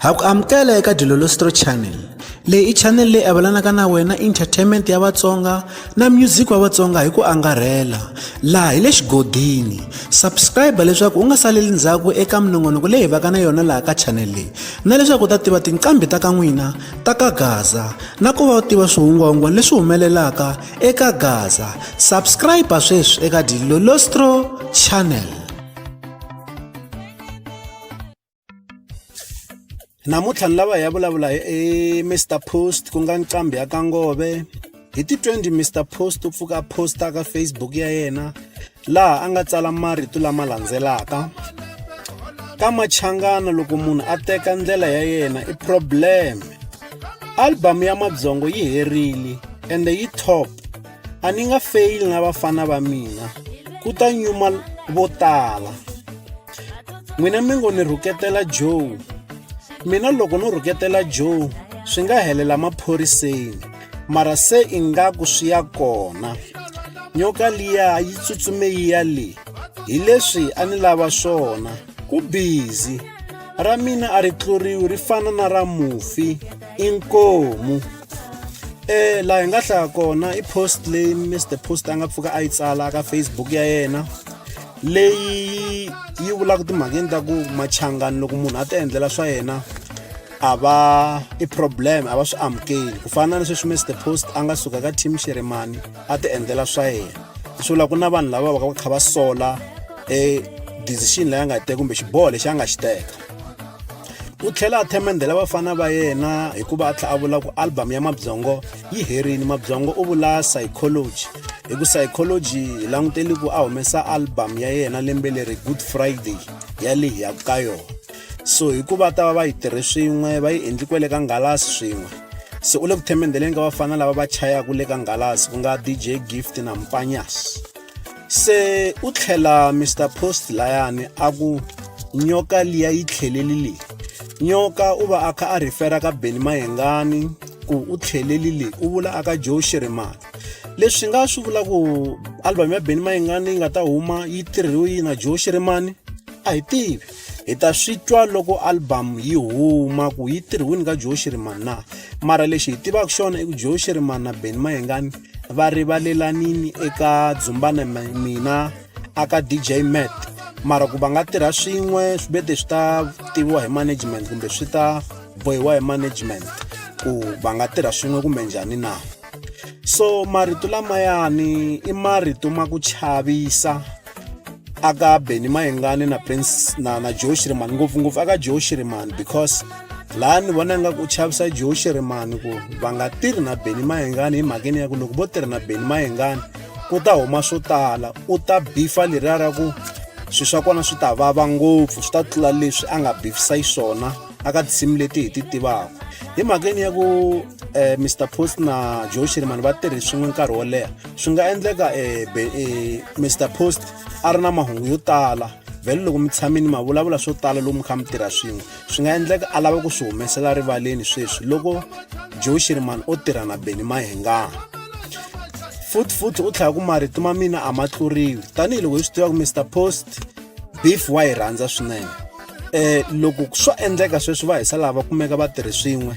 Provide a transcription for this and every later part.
ha ku amukela eka dilolostro channel leyi i channel leyi avelanaka na wena entertainment ya vatsonga na music wa vatsonga hi ku angarhela laha hi le xigodini subscribe leswaku u nga saleli ndzhaku eka minongonoko leyi hi vaka na yona laha ka channel leyi na leswaku u ta tiva tinqambi ta ka n'wina ta ka gaza na ku va u tiva swihungwahungwana leswi humelelaka eka gaza subscribe sweswi eka dilolostro channel namuntlha ni lava hi ya vulavula hi e, mr post ku nga nqambi ya ka ngove hi ti 20 mr post u pfuka a posta ka facebook ya yena laha a nga tsala marito lama landzelaka ka machangana loko munhu a teka ndlela ya yena i problem album ya madzongo yi herile ende yi top a ni nga feyili na vafana va mina ku ta nyuma vo tala n'wina mi ngo ni rhuketela joe mina loko no rhuketela joe swi nga helela maphoriseni mara se ingaku swi ya kona nyoka liya yi tsutsume yi ya le hi leswi a ni lava swona ku bizi ra mina a ri tluriwi ri fana na ra mufi inkomu eh laha hi nga hlaya kona i post leyi mr post a nga pfuka a yi tsala ka facebook ya yena leyi yi vulaka timhakeni ta ku machangani loko munhu a ti endlela swa yena a va i problem a va swi amukeli ku fana na sweswi mr post a nga suka ka team xiremani a ti endlela swa yena swi vula ku na vanhu lava va ka va kha va sola e decision leyi a nga yi teka kumbe xiboho lexi a nga xi teka u tlhela a themendhela vafana va yena hikuva a tlhela a vula ku albhamu ya mabyongo yi herile mabyongo u vula psychology hi ku psychology hi languteli ku a humesa albhamu ya yena lembe leri good friday ya leyi ya ka yona so hikuva ta va va yi tirhe swin'we va yi endli kwele ka ngalasi swin'we se u le ku themendheleni ka vafana lava va chayaka le ka ngalasi ku nga dj gift na mpanyas se u tlhela mr post layani a ku nyoka liya yi tlheleli leyi nyoka u va a kha a rhifera ka beni mayengani ku u tlheleli leyi u vula aka joe xirimani leswi nga swi vula ku album ya beni mayengani yi nga ta huma yi tirhiwe yi na joe xirimani a hi tivi hi ta swi twa loko albhamu yi huma ku yi tirhiwini ka joe shirimani na mara lexi hi tivaka xona i ku joe shirimani na beni mayengani va rivalelanini eka dzumbana mina aka dj mat mara ku va nga tirha swin'we swi bete swi ta tiviwa hi management kumbe swi ta bohiwa hi management ku va nga tirha swin'we kumbe njhani na so marito lamayani i marito ma ku chavisa aka beni mayengani na prince na, na joe shiriman ngopfungopfu aka joe shiriman because laha ni vona nga ku chavisa joe shiriman ku va nga tirhi na beni mayengani hi mhakeni ya ku loko vo tirhi na beni mayengani ku ta huma swo tala u ta bifa leriya ra ku swilo swa kona swi ta vava ngopfu swi ta tlula leswi a nga bifisa xiswona aka tinsimu leti hi ti tivaka hi mhakeni ya ku um eh, mr post na joe shirimani va tirhi swin'we nkarhi wo leha swi nga endleka um eh, um eh, mr post a ri na mahungu yo tala vhele loko mi tshamini ma vulavula swo tala lomu kha mi tirha swin'we swi nga endleka a lava ku swi humesela rivaleni sweswi loko joe shirimani o tirha na beni mahengana futhi futhi u tlhela ku marito ma mina a ma tluriwi tanihiloko hi swi tiva ku mr post beef wa yi rhandza swinene eh loko swo endleka sweswi va hisa lava kumeka va tirhi swin'we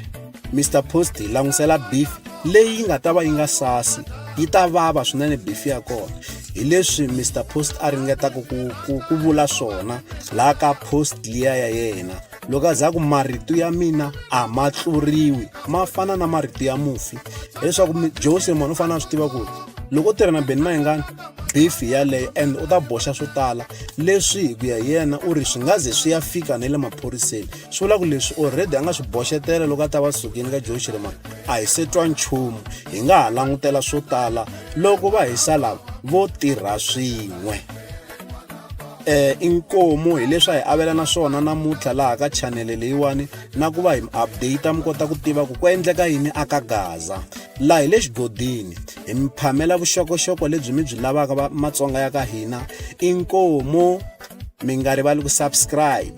Mr Post hi langutisela beef leyi nga ta va yi nga sasi yi ta vava swinene beef ya kona hi leswi Mr Post a ringetaka ku ku, ku vula swona la ka post liya ya yena loko a za ku marito ya mina a ma tluriwi ma fana na marito ya mufi leswaku Jose mwana u fanele a swi tiva ku loko u tirha na Benny Mayengani beef yaleyo and u ta boxa swo tala leswi hi ku ya yena u ri swi nga ze swi ya fika na le maphoriseni swi vula ku leswi already a nga swi boxetela loko a ta va sukini ka joe xirimana a hi se twa nchumu hi nga ha langutela swo tala loko va hi salava vo tirha swin'we eh inkomo hileswi a hi avelana swona namuntlha laha ka chanele leyiwani na ku va hi update mi kota ku tiva ku ku endleka yini aka gaza laha hi le xigodini hi mi phamela vuxokoxoko lebyi mi byi lavaka va matsonga ya ka hina i nkomo mi nga rivali ku subscribe